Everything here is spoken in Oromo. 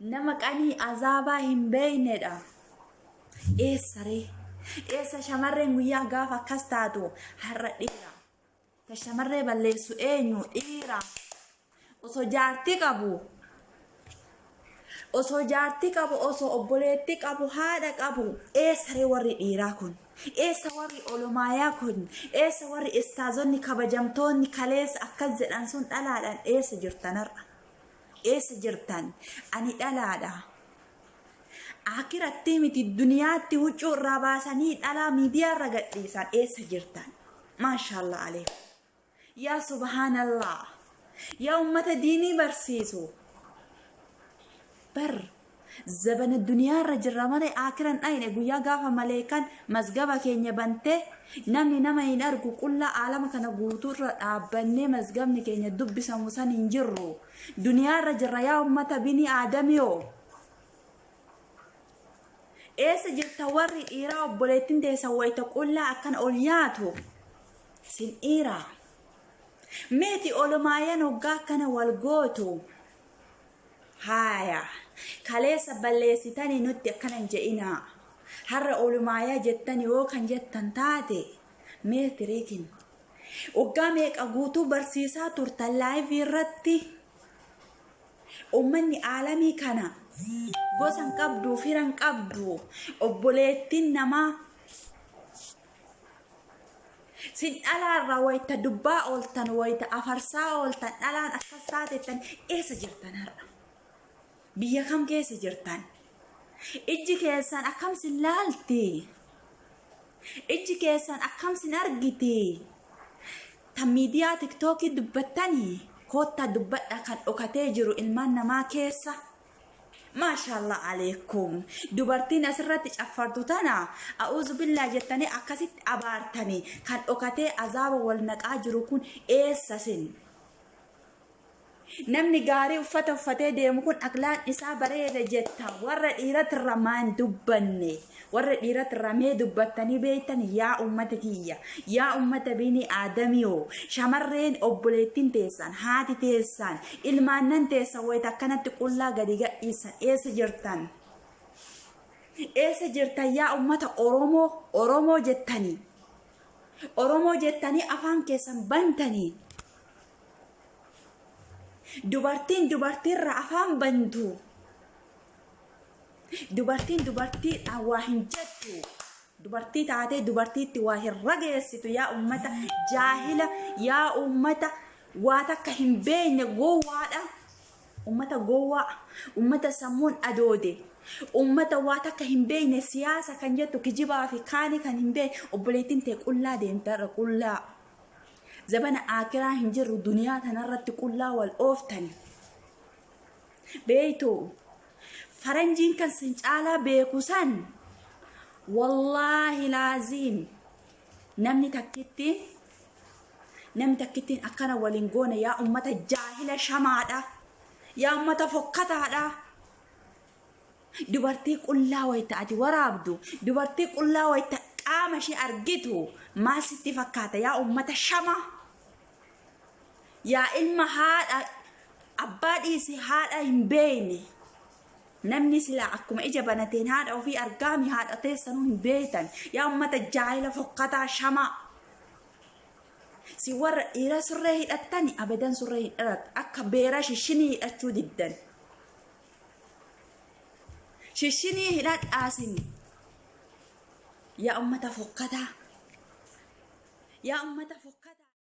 Nama qanii azaabaa hin beeynedha. Eessa ree? Eessa shamarreen guyyaa gaafa akkas taatu har'a dhiira. Ta shamarree balleessu eenyu dhiira. Osoo jaartii qabu osoo jaartii qabu osoo obboleettii qabu haadha qabu eessa ree warri dhiiraa kun eessa warri olomaayaa kun eessa warri istaazonni kabajamtoonni kaleessa akkas jedhan sun dhalaadhaan eessa jirtan har'a Eessa jirtan? Ani dhalaadha. Akirattii miti duniyaatti huccuu irraa baasanii dhalaa miidiyaa irra gadhiisan eessa jirtan? Maashaallah aleekum. Yaa subhaanallah. Yaa ummata diinii barsiisu. Bar Zabana duniyaa irra jirra malee aakira hin dhayne guyyaa gaafa maleeykan mazgaba keenya bantee namni nama hin argu qullaa aalama kana guutuu irra dhaabbannee mazgabni keenya dubbisamu san hin jirru duniyaa irra jirra yaa ummata bini aadamiyoo eessa jirta warri dhiiraa obboleettiin teessan wayita qullaa akkana ol yaatu sin dhiiraa meeti olomaayan hoggaa akkana wal gootu Haaya. Kaleessa balleessitanii nutti akkana hin je'inaa. Har'a olumaaya jettanii yoo kan jettan taate mee tiriikin. Waggaa meeqa guutuu barsiisaa turtan laayivii irratti ummanni aalamii kana gosa hin qabdu, fira hin qabdu, obboleettiin namaa Sin dhalaarraa wayita dubbaa ooltan, wayita afarsaa ooltan, dhalaan akkas taatettan eessa jirtan har'a? Biyya kam keessa jirtan? Ijji keessan akkam sin laalti? Ijji keessan akkam sin argiti? Tan miidiyaa tiktookii dubbattanii koottaa dubbadha kan dhokatee jiru ilmaan namaa keessa Maashaallah aleekum. Dubartiin asirratti caffartu tana a'uuzu billaa jettanii akkasitti abaartanii kan dhokatee azaaba wal naqaa jiru kun eessa sin? Namni gaarii uffata uffatee deemu kun aklaan isaa bareeda jetta warra dhiiratirra maan dubbanne. Warra dhiirat ramee dubbattanii beektan yaa ummata tiyya, yaa ummata bini aadamiyoo, shamarreen obboleettin teessan, haati teessan, ilmaannan teessan wayita akkanatti qullaa gadi gadhiissan eessa jirtan? Eessa jirtan yaa ummata Oromoo, Oromoo jettanii? Oromoo jettanii afaan keessan bantanii? Dubartiin dubartiirra afaan bantu. Dubartiin dubartiidhaan waa hin jettu. Dubartii taatee dubartiitti waa hin rageessitu yaa uummata jaahila yaa uummata waa takka hin beekne gowwaadha. Uummata gowwaa, uummata sammuun adoode, uummata waa takka hin beekne siyaasa kan jettu kijibaa fi kaanii kan hin beekne obboleettiin tee qullaa deemta irra qullaa. Zabana aakiraa hin jirru duniyaa tanarratti qullaa wal ooftani. beeytu faranjiin kan sin caalaa beeku san wallaahi laaziim namni takkittiin namni takkittiin akkana waliin goone yaa ummata jaahila shamaadha yaa ummata fokkataadha dubartii qullaa wayta ati waraabdu dubartii qullaa wayta qaama ishee argitu maal sitti fakkaata yaa ummata shamaa yaa ilma haadha abbaa dhiisi haadha hin beeyne namni silaa akkuma ija banateen haadha ofii argaami haadha teessanuu hin beeytan yaa ummata jaahila fokkataa shamaa si warra dhiira surree hidhattani abadan surree hin dhiratu akka beera shishinii hidhachuu diddan shishinii hidhadhaasin yaa ummata fokkataa yaa ummata fokkataa